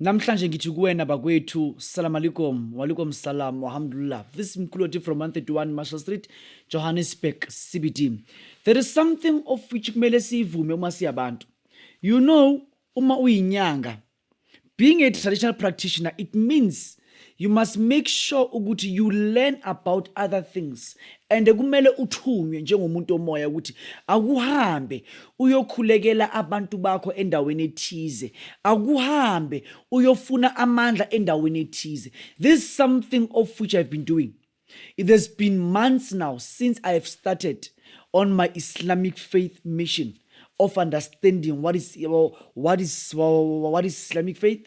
Namhlanje ngithi kuwena bakwethu salam alikum walikum salam wahamdulillah this mkhuloti from 131 Marshall Street Johannesburg CBD there is something of which kumele siyivume uma siyabantu you know uma uyinyanga being a traditional practitioner it means you must make sure ukuthi you learn about other things and kumele uthunywe njengomuntu omoya ukuthi akuhambe uyokhulekela abantu bakho endaweni ethize akuhambe uyofuna amandla endaweni ethize this is something of which i've been doing it has been months now since i have started on my islamic faith mission of understanding what is what is what is islamic faith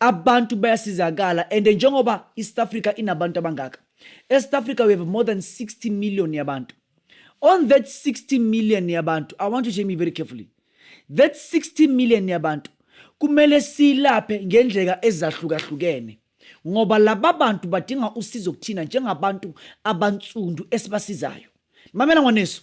abantu bayasizakala and njengoba i-south africa inabantu abangaka e-south africa we have more than 60 million yabantu on that 60 million yabantu i want to hear me very carefully that 60 million yabantu kumele silaphe ngendlela ezahlukahlukene ngoba laba bantu badinga usizo kuthina njengabantu abansundu esibasizayo mamela ngwaneso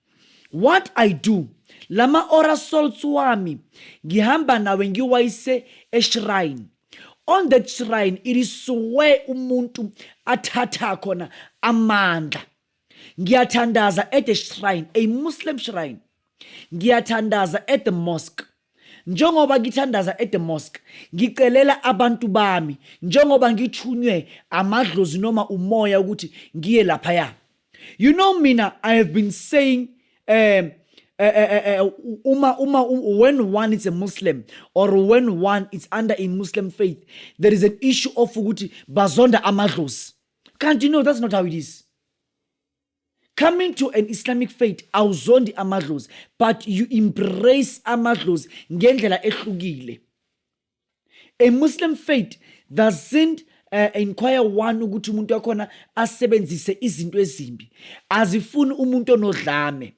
what i do lama ora salts wami ngihamba nawe ngiwayise eshrine on that shrine it is where umuntu athatha khona amandla ngiyathandaza at the shrine a muslim shrine ngiyathandaza at the mosque Njengoba ngithandaza e-the mosque, ngicelela abantu bami, njengoba ngithunywe amadlozi noma umoya ukuthi ngiye laphaya. You know mina, I have been saying um, uh, uh, uh, uma, uma, when one is a Muslim or when one is under a Muslim faith, there is an issue of ukuthi bazonda amadlozi. Can't you know that's not how it is? coming to an islamic faith awuzondi amadlozi but you embrace amadlozi ngendlela ehlukile a muslim faith doesn't uh, inquire one ukuthi umuntu wakhona asebenzise izinto ezimbi azifuni umuntu onodlame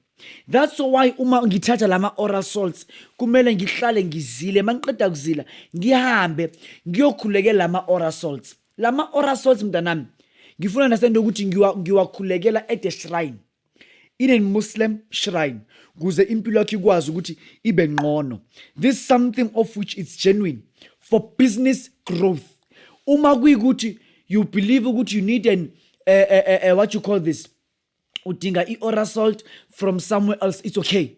that's why uma ngithatha lama oral salts kumele ngihlale ngizile mangiqeda kuzila ngihambe ngiyokhulekela lama oral salts Lama orasols mntanami ngifuna nasende ukuthi ngiwakhulekela ngiwa at a shrine in a Muslim shrine kuze impilo yakho ikwazi ukuthi ibe ngqono this is something of which is genuine for business growth uma kuyikuthi you believe ukuthi you need an uh, uh, uh, what you call this udinga i-orasalt from somewhere else it's okay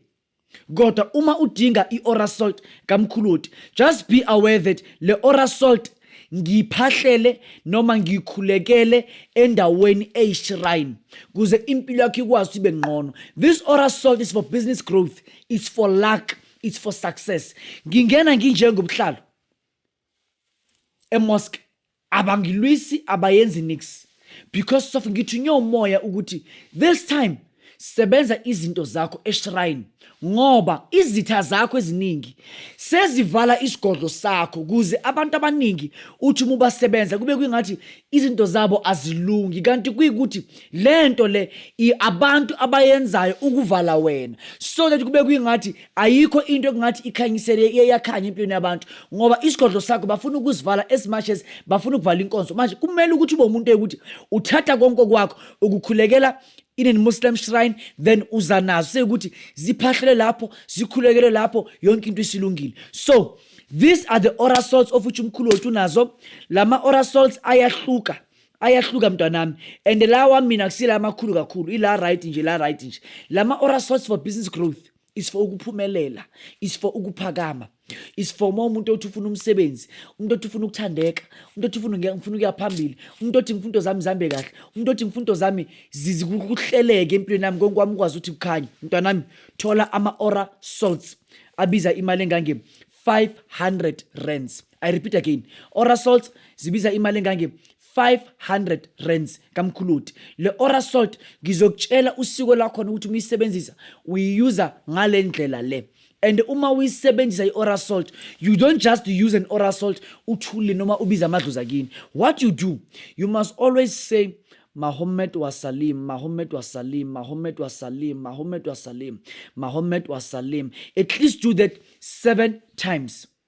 Kodwa uma udinga i-Ora Salt kaMkhuloti, just be aware that le Ora Salt ngiphahlele noma ngikhulekele endaweni eyishrine kuze impilo yakho ikwazi ukuthi ibe ngqono. This Ora Salt is for business growth, it's for luck, it's for success. Ngingena nginjengobuhlalo emosque abangilwisi abayenzi nix because sof ngithunywe umoya ukuthi this time sebenza izinto zakho eshrine ngoba izitha zakho eziningi sezivala isigodlo sakho kuze abantu abaningi uthi uma ubasebenza kube kwingathi izinto zabo azilungi kanti kuyikuthi le nto le abantu abayenzayo ukuvala wena so that kube kwingathi ayikho into ekungathi ikhanyisele iyakhanya empilweni yabantu ngoba isigodlo sakho bafuna ukusivala as much as bafuna ukuvala inkonzo manje kumele ukuthi ube umuntu ukuthi uthatha konke kwakho ukukhulekela in a muslim shrine then uza nazo sekuthi ziphahlele lapho zikhulekele lapho yonke into isilungile so these are the oral salts of which umkhulu wethu unazo lama oral salts ayahluka ayahluka mntwanami and la wami mina kusila amakhulu kakhulu ila right nje la right nje lama ora source for business growth is for ukuphumelela is for ukuphakama is for uma umuntu othi ufuna umsebenzi umuntu othi ufuna ukuthandeka umuntu othi ufuna ngifuna ukuya phambili umuntu othi ngifuna into zami zihambe kahle umuntu othi ngifuna into zami zizikuhleleke empilweni yami konke kwami ukwazi ukuthi kukhanye mntwanami thola ama-ora salts abiza imali engange-500 rands i repeat again oral salts zibiza imali engange 500 rands kamkhuluti le oral salt ngizokutshela usiko lakhona ukuthi uma uyisebenzisa uyiyuza ngale ndlela le and uma uyisebenzisa i-oral salt you don't just use an oral salt uthule noma ubiza amadloza kini what you do you must always say Mahomet wa Salim, Mahomet wa Salim, Mahomet wa Salim, Mahomet wa Salim, Mahomet wa Salim. At least do that seven times.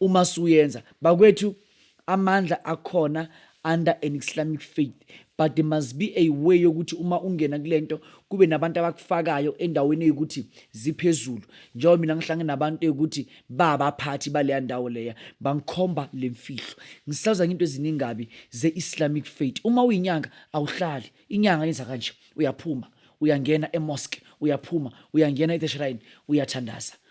Uma suyenza bakwethu amandla akhona under an Islamic faith but there must be a way yokuthi uma ungena kulento kube nabantu abakufakayo endaweni yokuthi ziphezulu njengoba mina ngihlangene nabantu yokuthi babaphathi baleya ndawo leya bangikhomba lemfihlo ngisaza into eziningabi ze-islamic faith uma uyinyanga awuhlali inyanga yenza kanje uyaphuma uyangena emosque uyaphuma uyangena e-shrine uyathandaza